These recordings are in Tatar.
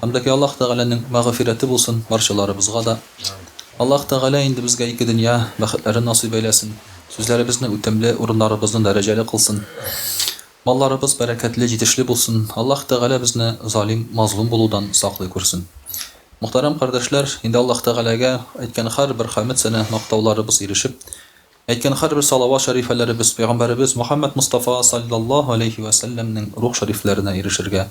Андәки Аллаһ Тәгаләнең мәгъфирәте булсын барчаларыбызга да. Аллаһ Тәгалә инде безгә ике дөнья бәхетләрен насыйп әйләсен, сүзләребезне үтемле, урыннарыбызны дәрәҗәле кылсын. Малларыбыз бәрәкәтле, җитешле булсын. Аллаһ Тәгалә безне залим, мазлум булудан саклый күрсен. Мөхтәрәм кардәшләр, инде Аллаһ Тәгаләгә әйткән һәрбер хәмед сәнә мактауларыбыз ирешеп, әйткән һәрбер салават шәрифәләребез Пәйгамбәребез Мөхәммәд Мостафа салләллаһу аләйһи вә сәлләмнең рух шәрифләренә ирешергә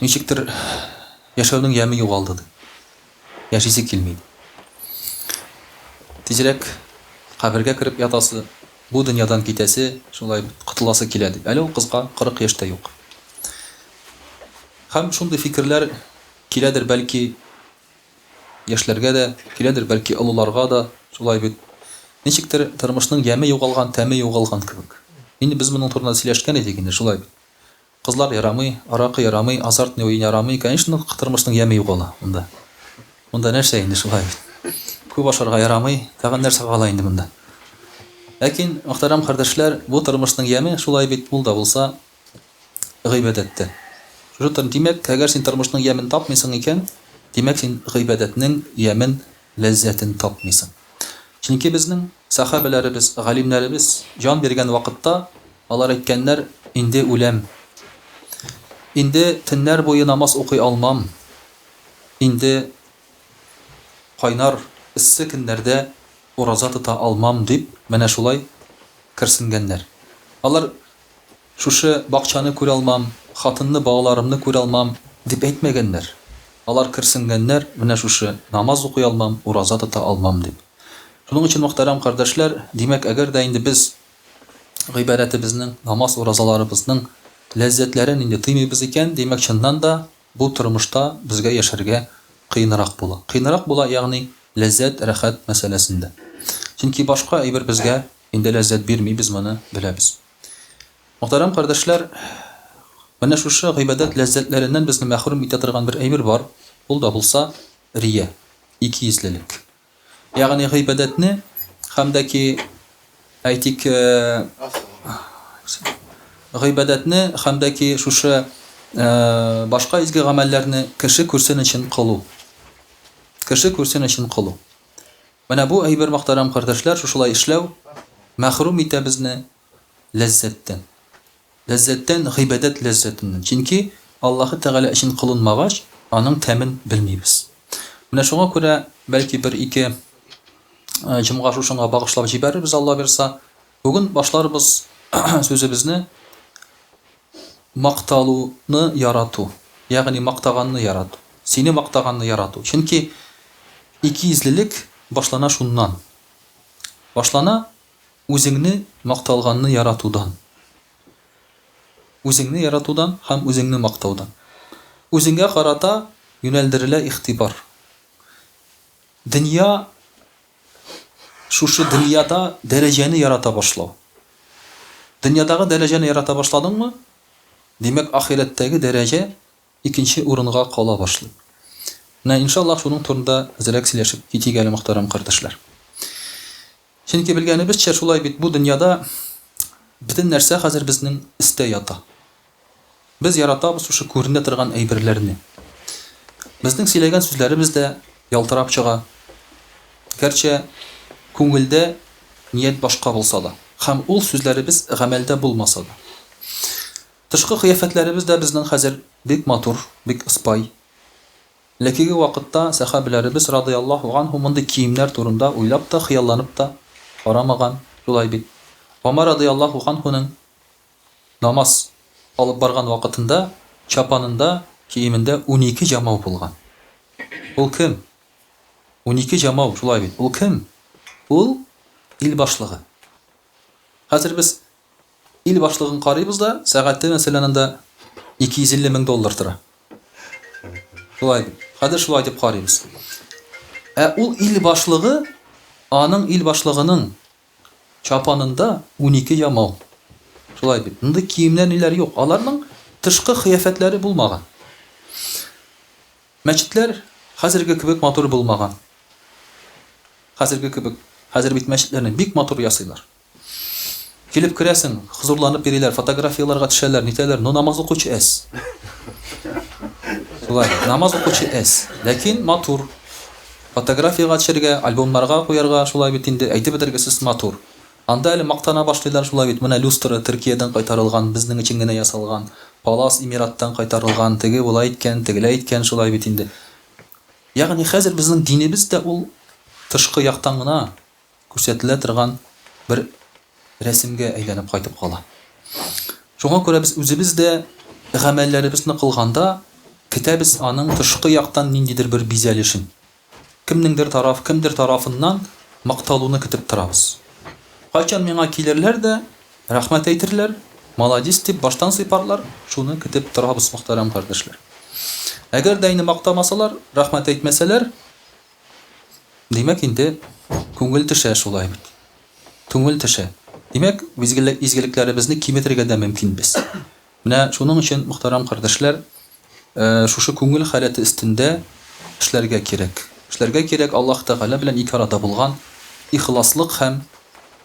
Ничектер, яшәүнең яме югалды, ди. Яшисе килми, ди. Тизрәк кабергә кереп ятасы, бу дөньядан китәсе, шулай котыласы килә, ди. Әле ул кызга 40 яшь тә юк. Һәм шундый фикерләр киләдер, бәлки, яшьләргә дә, киләдер, бәлки, олыларга да, шулай бит. Ничектер, тормышның яме югалган, тәме югалган кебек. Инде без моның турында сөйләшкән идек инде, шулай бит. Кызлар ярамый, аракы ярамый, азартный уен ярамый, конечно, тормышның яме юк ул монда. Монда нәрсә инде шулай бит. Күп ашарга ярамый, тагын нәрсә кала инде монда. Ләкин, мөхтәрәм кардәшләр, бу тормышның яме шулай бит, ул да булса гыйбадәт тә. Шушы тор, димәк, әгәр син тормышның ямен тапмыйсың икән, димәк, син гыйбадәтнең ямен ләззәтен татмыйсың. Чөнки безнең сәхабәләребез, галимнәребез җан биргән вакытта, алар әйткәннәр, Инде үләм. Инде төннәр буе намаз укый алмам. Инде кайнар, эссе көннәрдә ураза тота алмам, дип, менә шулай керсенгәннәр. Алар Шушы бакчаны күралмам, хатынны балаларымны күралмам, дип әйтмәгәннәр. Алар керсенгәннәр, менә шушы, намаз укый алмам, ураза тота алмам, дип. Шуның өчен, мөхтәрәм кардәшләр, димәк, әгәр дә инде без гыйбадәтебезнең, намаз-уразаларыбызның ләззәтләрен инде тыймыйбыз икән, димәк, чыннан да, бу тормышта безгә яшәргә кыенрак була. Кыенрак була, ягъни ләззәт, рәхәт мәсьәләсендә. Чөнки башка әйбер безгә инде ләззәт бирми, без моны беләбез. Мөхтәрәм кардәшләр, менә шушы гыйбадәт ләззәтләреннән безне мәхрүм итә торган бер әйбер бар, ул да булса, рия, икейөзлелек. Ягъни гыйбадәтне һәм дә ки, әйтик, гыйбадәтне һәм дә ки шушы башка изге гамәлләрне кеше күрсен өчен кылу. Кеше күрсен өчен кылу. Менә бу әйбер мөхтәрәм кардәшләр шушылай эшләү мәхрүм итә безне ләззәттән. Ләззәттән гыйбадәт ләззәтеннән. Чөнки Аллаһы Тәгалә өчен кылынмагач, аның тәмен белмибез. Менә шуңа күрә бәлки бер-ике җомга шушыңа багышлап җибәрербез Алла бирса. Бүген башларбыз сүзебезне макталуны ярату, ягъни мактаганны ярату, сине мактаганны ярату. Чөнки икейөзлелек башлана шуннан. Башлана үзеңне макталганны яратудан. Үзеңне яратудан һәм үзеңне мактаудан. Үзеңгә карата юнәлдерелә игътибар. Дөнья Шушы дөньяда дәрәҗәне ярата башлау. Дөньядагы дәрәҗәне ярата башладыңмы, димәк, ахирәттәге дәрәҗә икенче урынга кала башлый. Менә, иншаллаһ, шуның турында әзрәк сөйләшеп китик әле, мөхтәрәм кардәшләр. Чөнки, белгәнебезчә, шулай бит, бу дөньяда бөтен нәрсә хәзер безнең өстә ята. Без яратабыз шушы күренә торган әйберләрне. Безнең сөйләгән сүзләребез дә ялтырап чыга, гәрчә күңелдә ният башка булса да, һәм ул сүзләребез гамәлдә булмаса да. Тышкы кыяфәтләребез дә безнең хәзер бик матур, бик ыспай. Элеккеге вакытта сәхабиләребез радыяллаһу анһу мондый киемнәр турында уйлап та, хыялланып та карамаган, шулай бит? Гомәр радыяллаһу анһуның Намаз алып барган вакытында чапанында, киемендә унике җамау булган. Ул кем? Унике җамау, шулай бит. Ул кем? Ул, ил башлыгы. Хәзер без ил башлыгын карыйбыз да, сәгате, мәсәлән, анда 250 мең доллар тора. Шулай бит. Хәзер шулай дип карыйбыз. Ә ул ил башлыгы, аның ил башлыгының Чапанында унике ямау. Шулай бит. Мондый киемнәр ниләр юк. Аларның тышкы кыяфәтләре булмаган. Мәчетләр хәзерге кебек матур булмаган. Хәзерге кебек. Хәзер бит мәчетләрне бик матур ясыйлар. Килеп керәсең, хозурланып йөриләр, фотографияләргә төшәләр, нитәләр, но намаз укучы әз. Шулай, намаз укучы әз. Ләкин матур. Фотографиягә төшәргә, альбомнарга куярга, шулай бит инде, әйтеп бетергесез матур. Анда әле мактана башлыйлар, шулай бит, менә люстра, Төркиядән кайтарылган, безнең өчен генә ясалган, палас, Эмираттан кайтарылган, теге болай иткән, тегеләй иткән, шулай бит инде. Ягъни хәзер безнең динебез дә ул тышкы яктан гына, күрсәтелә торган бер рәсемгә әйләнеп кайтып кала. Шуңа күрә без үзебез дә гамәлләребезне кылганда көтәбез аның тышкы яктан ниндидер бер бизәлешен. Кемнеңдер тараф, кемдер тарафыннан макталуны көтеп торабыз. Кайчан миңа килерләр дә, рәхмәт әйтерләр, маладис дип баштан сыйпарлар, шуны көтеп торабыз, мөхтәрәм кардәшләр. Әгәр дә инде мактамасалар, рәхмәт әйтмәсәләр, Димәк инде, күңел төшә шулай бит. Күңел төшә. Димәк, изгелекләребезне киметергә дә мөмкин без. Менә шуның өчен, мөхтәрәм кардәшләр, шушы күңел халәте өстендә эшләргә кирәк. Эшләргә кирәк Аллаһ Тәгалә белән ике арада булган ихласлык һәм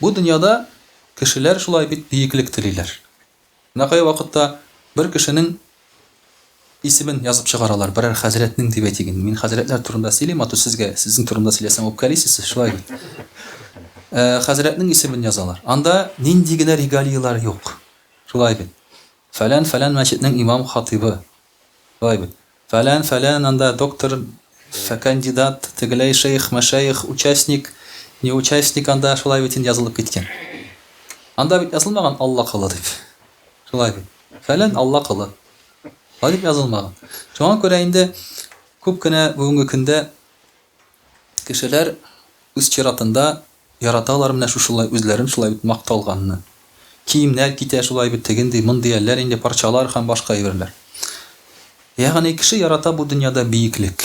Бу дөньяда кешеләр шулай бит биеклек телиләр. Менә кая вакытта бер кешенең исемен язып чыгаралар, берәр хәзрәтнең дип әйтик инде. Мин хәзрәтләр турында сөйлим, а то сезгә, сезнең турында сөйләсәм үпкәлисез, шулай бит. Ә, хәзрәтнең исемен язалар. Анда нинди генә регалияләр юк. Шулай бит. Фәлән-фәлән мәчетнең имам-хатыйбы, Шулай бит. Фәлән, фәлән, анда доктор, фәкандидат, тегеләй шейх, мәшәех, участник, не участник анда, шулай бит инде язылып киткән. Анда бит язылмаган Алла колы дип. Шулай бит. Фәлән Алла колы. Шулай дип язылмаган. Шуңа күрә инде күп кенә бүгенге көндә Кешеләр, үз чиратында, яраталар менә шушылай үзләрен шулай бит макталганны. Киемнәр китә шулай бит, тегенди, мондый әлләр инде парчалар һәм башка әйберләр. Ягъни кеше ярата бу дөньяда биеклек.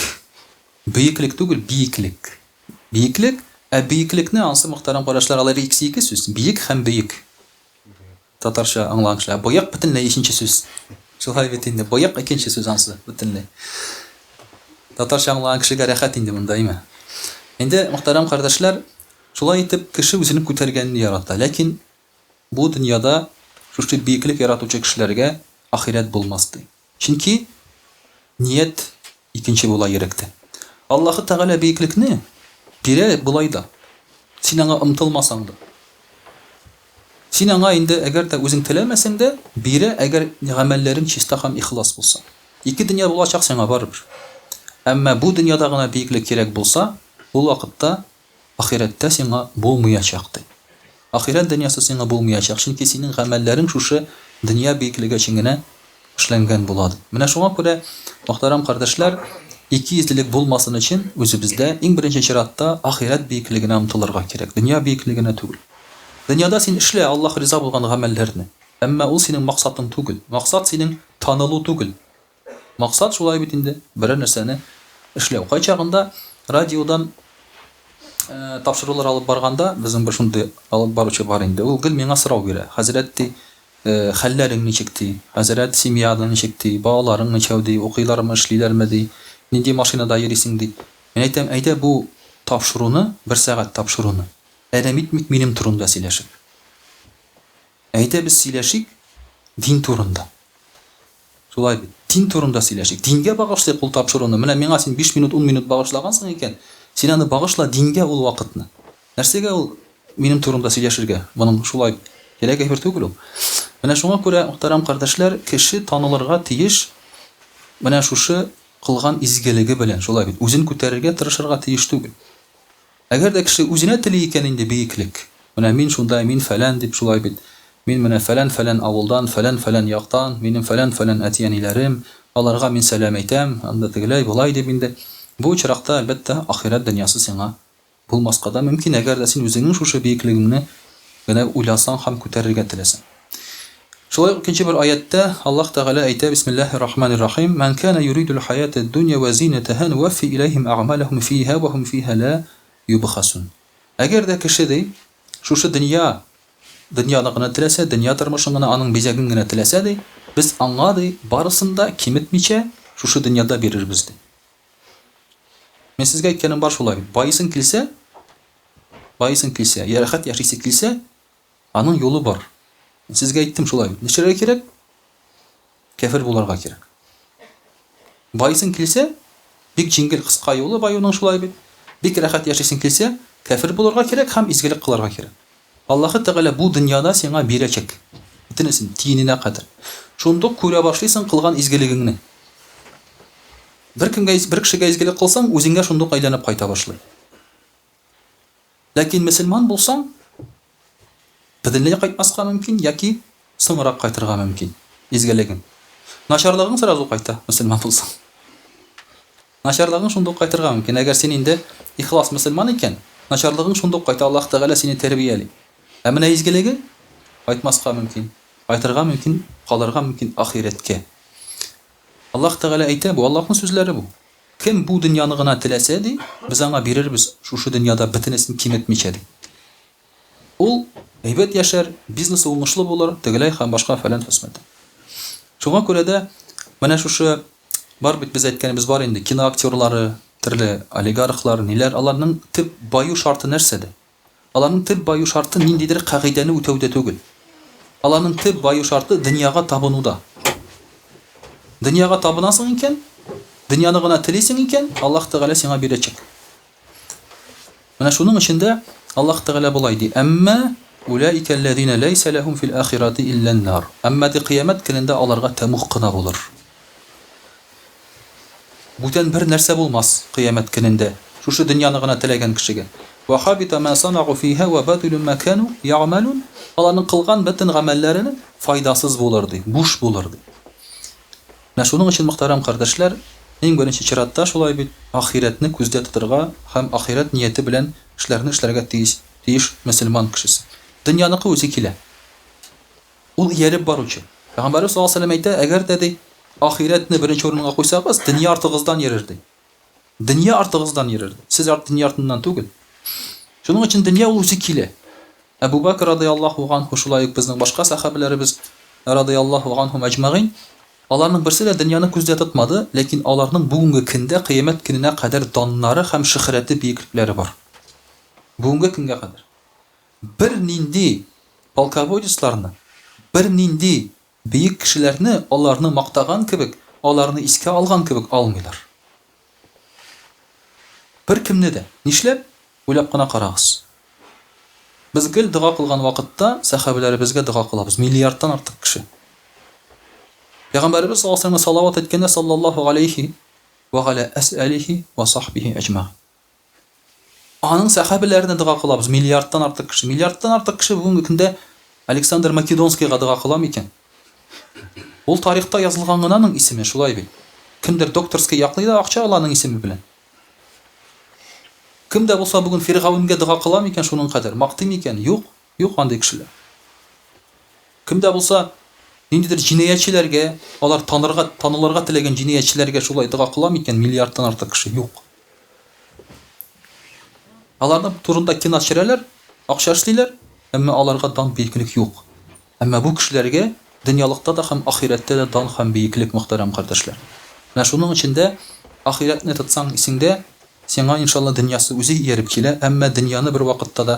Бөеклек түгел, биеклек. Биеклек, ә бөеклекне ансы мохтәрәм карашлар, алар икесе ике сүз, биек һәм бөек. Татарча аңланышлы. Ә боек бөтенләй ишенче сүз. Шулай бит инде. Боек икенче сүз ансы бөтенләй. Татарча аңлаган кешегә рәхәт инде монда, әйме? Инде, мөхтәрәм кардәшләр, шулай итеп кеше үзенең күтәргәнен ярата. Ләкин бу дөньяда шушы биеклек яратучы кешеләргә ахирәт булмас, ди. Чөнки ният икенче була йөрәктә. Аллаһы Тәгалә биеклекне бирә болай да, син аңа омтылмасаң да. Син аңа инде әгәр дә үзең теләмәсәң дә, бирә, әгәр гамәлләрең чиста һәм ихлас булса. Ике дөнья булачак сиңа барыбер. Әмма бу дөньяда гына биеклек кирәк булса, ул вакытта Ахирәттә сиңа булмыячак, ди. Ахирәт дөньясы сиңа булмыячак, чөнки синең гамәлләрең шушы дөнья биеклеге өчен генә эшләнгән була, ди. Менә шуңа күрә, мөхтәрәм кардәшләр, икейөзлелек булмасын өчен, үзебездә, иң беренче чиратта, ахирәт биеклегенә омтылырга кирәк, дөнья биеклегенә түгел. Дөньяда син эшлә Аллаһ риза булган гамәлләрне, әмма ул синең максатың түгел. Максат синең танылу түгел. Максат шулай бит инде, берәр нәрсәне эшләү. Кайчагында радиодан тапшырулар алып барганда, безнең бер шундый алып баручы бар инде. Ул гел миңа сорау бирә. Хәзрәт, ди, хәлләрең ничек, ди. Хәзрәт, семьяның ничек, ди. Балаларың ничәү, ди. Укыйлармы, эшлиләрме, ди. Нинди машинада йөрисең, ди. Мин әйтәм, әйдә бу тапшыруны, бер сәгать тапшыруны, әрәм итмик минем турында сөйләшик. Әйдә без сөйләшик дин турында. Шулай бит. Дин турында сөйләшик. Дингә багышлыйк ул тапшыруны. Менә миңа син биш минут, ун минут багышлагансың икән, син аны багышла дингә ул вакытны. Нәрсәгә ул минем турымда сөйләшергә? Моның шулай кирәк әйбер түгел ул. Менә шуңа күрә, мөхтәрәм кардәшләр, кеше танылырга тиеш менә шушы кылган изгелеге белән, шулай бит, үзен күтәрергә тырышырга тиеш түгел. Әгәр дә кеше үзенә тели икән инде биеклек, менә мин шундай, мин фәлән дип шулай бит, мин менә фәлән-фәлән авылдан, фәлән-фәлән яктан, минем фәлән-фәлән әти-әниләрем, аларга мин сәлам әйтәм, анда тегеләй, болай дип инде, бу очракта, әлбәттә, ахирәт дөньясы сиңа булмаска да мөмкин, әгәр дә син үзеңнең шушы биеклегеңне генә уйласаң һәм күтәрергә теләсәң. Шулай ук икенче бер аятьтә Аллаһ Тәгалә әйтә, Бисмиллаһи рахмани рахим, Мән кәнә юридул хаятәд дунья вә зинәтәһә нуәффи иләйһим әгъмәләһүм фиһә вә һүм фиһә лә юбхасун. Әгәр дә кеше, ди, шушы дөнья, дөньяны гына теләсә, дөнья тормышын гына, аның бизәген генә теләсә, ди, без аңа, ди, барысын да киметмичә, шушы дөньяда бирербез, ди. Мин сезгә әйткәнем бар шулай бит, баесын килсә, баесын килсә, йә рәхәт яшисе килсә, Аның юлы бар. Мин сезгә әйттем шулай бит. Нишләргә кирәк? Кяфер буларга кирәк. Байыйсың килсә, бик җиңел, кыска юлы баюның шулай бит. Бик рәхәт яшисең килсә, кяфер буларга кирәк һәм изгелек кыларга кирәк. Аллаһы Тәгалә бу дөньяда сиңа бирәчәк. Бөтенесен, тиененә кадәр. Шунда ук күрә башлыйсың кылган изгелегеңне. Беркемгә, бер кешегә изгелек кылсаң, үзеңә шунда ук әйләнеп кайта башлый. Ләкин мөселман булсаң, бөтенләй кайтмаска мөмкин яки соңрак кайтырга мөмкин изгелегең. Начарлыгың сразу кайта, мөселман булсаң. Начарлыгың шунда ук кайтырга мөмкин. Әгәр син инде ихлас мөселман икән, начарлыгың шунда ук кайта, Аллаһ Тәгалә сине тәрбияли. Ә менә изгелегең кайтмаска мөмкин, кайтырга мөмкин, калырга мөмкин ахирәткә. Аллаһ Тәгалә әйтә, бу Аллаһның сүзләре бу. Кем бу дөньяны гына теләсә, ди, без аңа бирербез, шушы дөньяда бөтенесен киметмичә, ди. Ул әйбәт яшәр, бизнесы уңышлы булыр, тегеләй һәм башка фәлән фәсмәт. Шуңа күрә дә менә шушы бар бит без әйткәнебез бар инде, киноактерлары, төрле олигархлар, ниләр, аларның төп баю шарты нәрсәдә? Аларның төп баю шарты ниндидер кагыйдәне үтәүдә түгел. Аларның төп баю шарты дөньяга табынуда. Дөньяга табынасың икән, дөньяны гына телисең икән, Аллаһ Тәгалә сиңа бирәчәк. Менә шуның өчен дә Аллаһ Тәгалә болай ди, Әмма уләика лләзина ләйсә ләһум фил ахирати илля н-нар. Әмма ди Кыямәт көнендә аларга тәмуг кына булыр. Бүтән бер нәрсә булмас кыямәт көнендә, шушы дөньяны гына теләгән кешегә. Вә хабита мә санагу фиһә вә бәтилү мә кәнү я'мәлүн, аларның кылган бөтен гамәлләре файдасыз булыр, ди, буш булыр, ди. Менә шуның өчен, мөхтәрәм кардәшләр, иң беренче чиратта шулай бит, ахирәтне күздә тотырга һәм ахирәт нияте белән эшләрне эшләргә тиеш, тиеш мөселман кешесе. Дөньяныкы үзе килә. Ул ияреп баручы. Пәйгамбәребез саллаллаһу галәйһи ва сәлләм әйтә, Әгәр дә, ди, ахирәтне беренче урынга куйсагыз, дөнья артыгыздан йөрер, ди. Дөнья артыгыздан йөрер, ди. Сез дөнья артыннан түгел. Шуның өчен дөнья ул үзе килә. Әбу Бәкер радыяллаһу ганһу, шулай ук безнең башка сәхабәләребез радыяллаһу ганһум әҗмәгыйн, аларның берсе дә дөньяны күздә тотмады, ләкин аларның бүгенге көндә кыямәт көненә кадәр даннары һәм шөхрәте, биеклекләре бар. Бүгенге көнгә кадәр. Бер нинди полководецларны, бер нинди бөек кешеләрне аларны мактаган кебек, аларны искә алган кебек алмыйлар. Беркемне дә. Нишләп? Уйлап кына карагыз. Без гел дога кылган вакытта сәхабәләребезгә дога кылабыз, миллиардтан артык кеше. Пәйгамбәребез саллаллаһу галәйһи вә сәлләмгә салават әйткәндә, саллаллаһу галәйһи вә галә әс-әлиһи вә сахбихи әҗмәгин. Аның сәхабәләренә дога кылабыз, миллиардтан артык кеше. Миллиардтан артык кеше бүгенге көндә Александр Македонскийга дога кыла микән? Ул тарихта язылган гына аның исеме, шулай бит? Кемдер докторский яклый да акча ала аның исеме белән. Кем дә булса бүген Фиргавенгә дога кыла микән шуның кадәр, мактый микән? Юк. Юк андый кешеләр. Кем дә булса, ниндидер җинаятьчеләргә, алар танырга, танылырга теләгән җинаятьчеләргә шулай дога кыла микән, миллиардтан артык кеше? Юк. Аларның турында кино төшерәләр, акча эшлиләр, әмма аларга дан, бөеклек юк. Әмма бу кешеләргә дөньялыкта да һәм ахирәттә дә дан һәм бөеклек, мөхтәрәм кардәшләр. Менә шуның өчен дә ахирәтне тотсаң исеңдә, сиңа, иншалла, дөньясы үзе ияреп килә, әмма дөньяны бервакытта да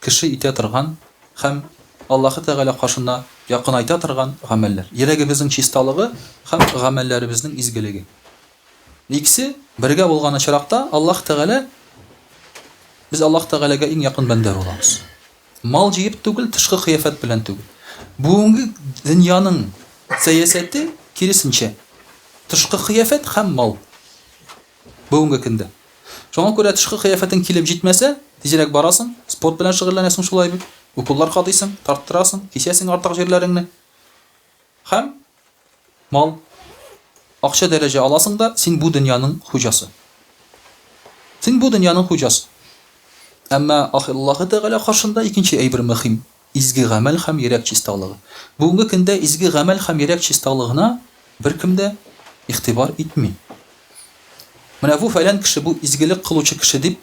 кеше итә торган һәм Аллаһы Тәгалә каршына якынайта торган гамәлләр, йөрәгебезнең чисталыгы һәм гамәлләребезнең изгелеге. Икесе бергә булган очракта Аллаһ Тәгалә без Аллаһ Тәгаләгә иң якын бәндә булабыз. Мал җыеп түгел, тышкы кыяфәт белән түгел. Бүгенге дөньяның сәясәте киресенчә, тышкы кыяфәт һәм мал бүгенге көндә. Шуңа күрә тышкы кыяфәтең килеп җитмәсә, тизрәк барасың, спорт белән шөгыльләнәсең шулай бит, уколлар кадыйсың, тарттырасың, кисәсең артык җирләреңне. Һәм мал, акча дәрәҗә аласың да, син бу дөньяның хуҗасы. Син бу дөньяның хуҗасы. Әмма Аллаһы Тәгалә каршында икенче әйбер мөхим. Изге гамәл һәм йөрәк чисталыгы. Бүгенге көндә изге гамәл һәм йөрәк чисталыгына беркем дә игътибар итми. Менә бу фәлән кеше, бу изгелек кылучы кеше дип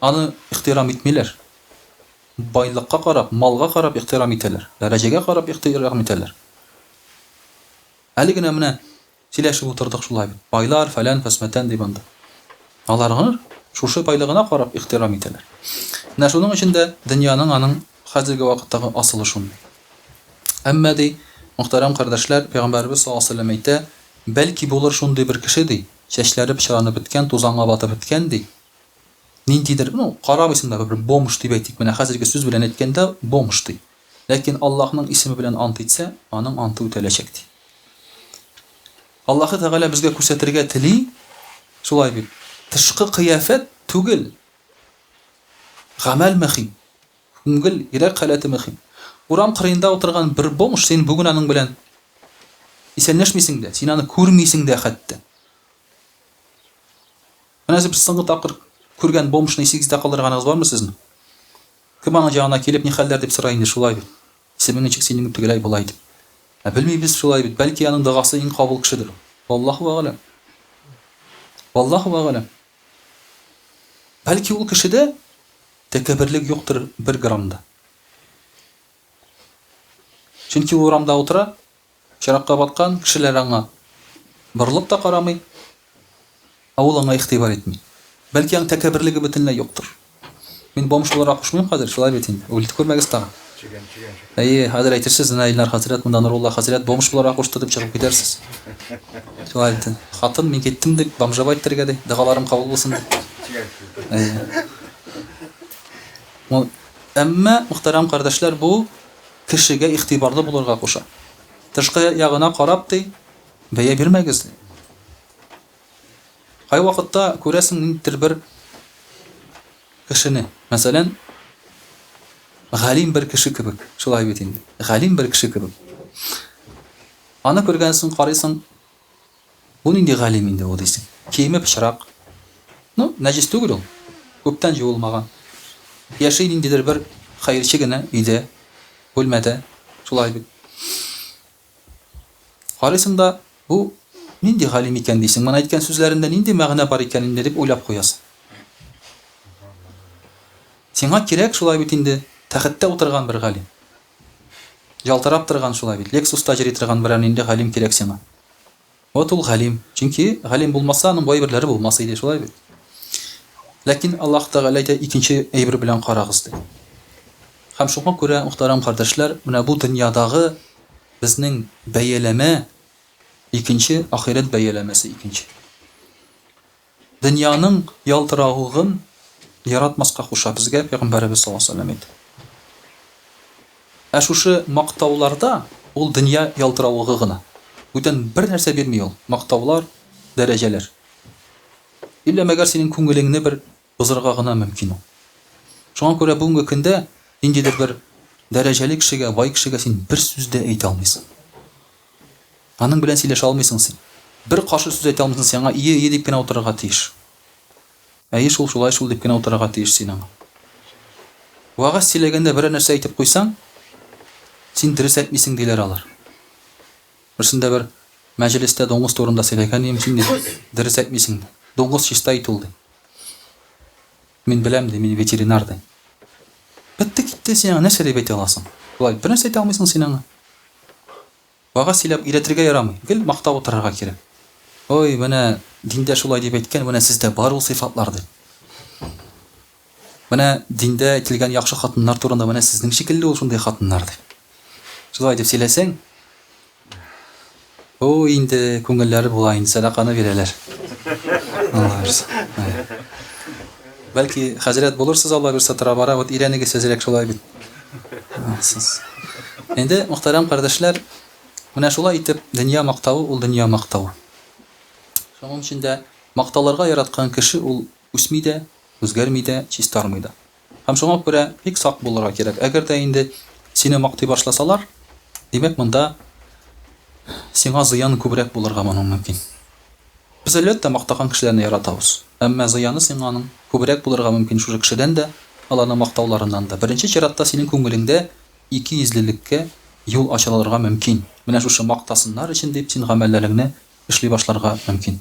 аны ихтирам итмиләр. Байлыкка карап, малга карап ихтирам итәләр, дәрәҗәгә карап ихтирам итәләр. Әле генә менә Сөйләшеп утырдык шулай бит, байлар, фәлән, фәсмәтән дип анда. Аларгыр шушы байлыгына карап ихтирам итәләр. Менә шуның өчен дә дөньяның аның хәзерге вакыттагы асылы шундый. Әмма, ди, мөхтәрәм кардәшләр, пәйгамбәребез саллаллаһу галәйһи ва сәлләм әйтә, Бәлки булыр шундый бер кеше, ди, чәчләре пычранып беткән, тузанга батып беткән, ди, ниндидер, ну, карамыйсың да, бер бомж дип әйтик, менә хәзерге сүз белән әйткәндә, бомж, ди. Ләкин Аллаһның исеме белән ант итсә, аның анты үтәләчәк, ди. Аллаһы Тәгалә безгә күрсәтергә тели, шулай бит, тышкы кыяфәт түгел, гамәл мөһим, күңел, йөрәк халәте мөһим. Урам кырыенда утырган бер бомж, син бүген аның белән исәнләшмисең дә, син аны күрмисең дә хәтта. Менә сез соңгы тапкыр күргән бомжны исегездә калдырганыгыз бармы сезнең? Кем аның җанына килеп, ни хәлләр дип сорый инде шулай бит. Исемен ничек синең тегеләй болай дип. Ә белмибез шулай бит, бәлки аның догасы иң кабул кешедер. Валлаһу әгъләм. Валлаһу әгъләм. Бәлки ул кешедә тәкәбберлек юктыр бер грамм да. Чөнки ул урамда утыра, Пычракка баткан кешеләр аңа борылып та карамый, ә ул аңа игътибар итми. Бәлки аның тәкәбберлеге бөтенләй юктыр. Мин бомж буларак кушмыйм хәзер, шулай бит инде, үгетлек күрмәгез тагын. Әйе, хәзер әйтерсез, менә Илнар хәзрәт монда Нурулла хәзрәт бомж буларак кушты дип чыгып китәрсез. Шулай бит инде. Хатын, мин киттем дип, бомжа бай китәргә ди, догаларым кабул булсын дип. Әйе. Әмма, мөхтәрәм кардәшләр, бу кешегә игътибарлы булырга куша. Тышкы ягына карап, ди, бәя бирмәгез, ди. Кайвакытта күрәсең ниндидер бер кешене, мәсәлән, галим бер кеше кебек, шулай бит инде, галим бер кеше кебек. Аны күргәнсең, карыйсың, Бу нинди галим инде бу дисең. Киеме пычрак. Ну, нәҗес түгел ул. Күптән җуылмаган. Яши ниндидер бер хәерче генә өйдә, бүлмәдә. Шулай бит. Карыйсың да, бу нинди галим икән дисең, моны әйткән сүзләрендә нинди мәгънә бар икән инде дип уйлап куясың. Сиңа кирәк, шулай бит инде, тәхеттә утырган бер галим. Ялтырап торган шулай бит. Лексуста йөри торган берәр нинди галим кирәк сиңа. Вот ул галим. Чөнки галим булмаса, аның бу әйберләре булмас иде, шулай бит. Ләкин Аллаһ Тәгалә әйтә, икенче әйбер белән карагыз, ди. Һәм шуңа күрә, мөхтәрәм кардәшләр, менә бу дөньядагы безнең бәяләмә икенче, ахирәт бәяләмәсе икенче. Дөньяның ялтыравыгын яратмаска куша безгә Пәйгамбәребез саллаллаһу галәйһи ва сәлләм әйтеп. Ә шушы мактауларда ул дөнья ялтыравыгы гына. Бүтән бернәрсә бирми ул, мактаулар, дәрәҗәләр. Иллә мәгәр синең күңелеңне бер бозырга гына мөмкин ул. Шуңа күрә бүгенге көндә ниндидер бер дәрәҗәле кешегә, бай кешегә син бер сүз дә әйтә алмыйсың. Аның белән сөйләшә алмыйсың син. Бер каршы сүз әйтә алмыйсың син аңа, ие, ие дип кенә утырырга тиеш. Әйе шул, шулай шул дип кенә утырырга тиеш син аңа. Вәгазь сөйләгәндә берәр нәрсә әйтеп куйсаң, син дөрес әйтмисең, диләр алар. Берсендә бер мәҗелестә дуңгыз турында сөйләгән идем, син, ди, дөрес әйтмисең, ди. Дуңгыз чиста ит ул, ди. Мин беләм, ди, мин ветеринар, ди. Бетте китте, син аңа нәрсә дип әйтә аласың? Болай бер нәрсә әйтә алмыйсың син аңа. Вәгазь сөйләп өйрәтергә ярамый, гел мактап утырырга кирәк. Ой, менә диндә шулай дип әйткән, менә сездә бар ул сыйфатлар, ди. Менә диндә әйтелгән яхшы хатыннар турында, менә сезнең шикелле ул шундый хатыннар, ди. Шулай дип сөйләсәң, Бу инде күңелләре була инде, сәдаканы бирәләр. Алла бирсә. Бәлки хәзрәт булырсыз Алла бирсә тора-бара, вот өйрәнегез әзрәк шулай бит. Инде мөхтәрәм кардәшләр, менә шулай итеп дөнья мактавы ул дөнья мактавы. Шуның өчен дә макталырга яраткан кеше ул Үсми дә, үзгәрми дә, чистармый да. Һәм шуңа күрә бик сак булырга кирәк. Әгәр дә инде сине мактый башласалар, димәк, монда сиңа зыяны күбрәк булырга моның мөмкин. Без, әлбәттә, мактаган кешеләрне яратабыз. Әмма зыяны сиңа аның күбрәк булырга мөмкин шушы кешедән дә, аларның мактауларыннан да. Беренче чиратта синең күңелеңдә икейөзлелеккә юл ачылырга мөмкин. Менә шушы мактасыннар өчен дип син гамәлләреңне эшли башларга мөмкин.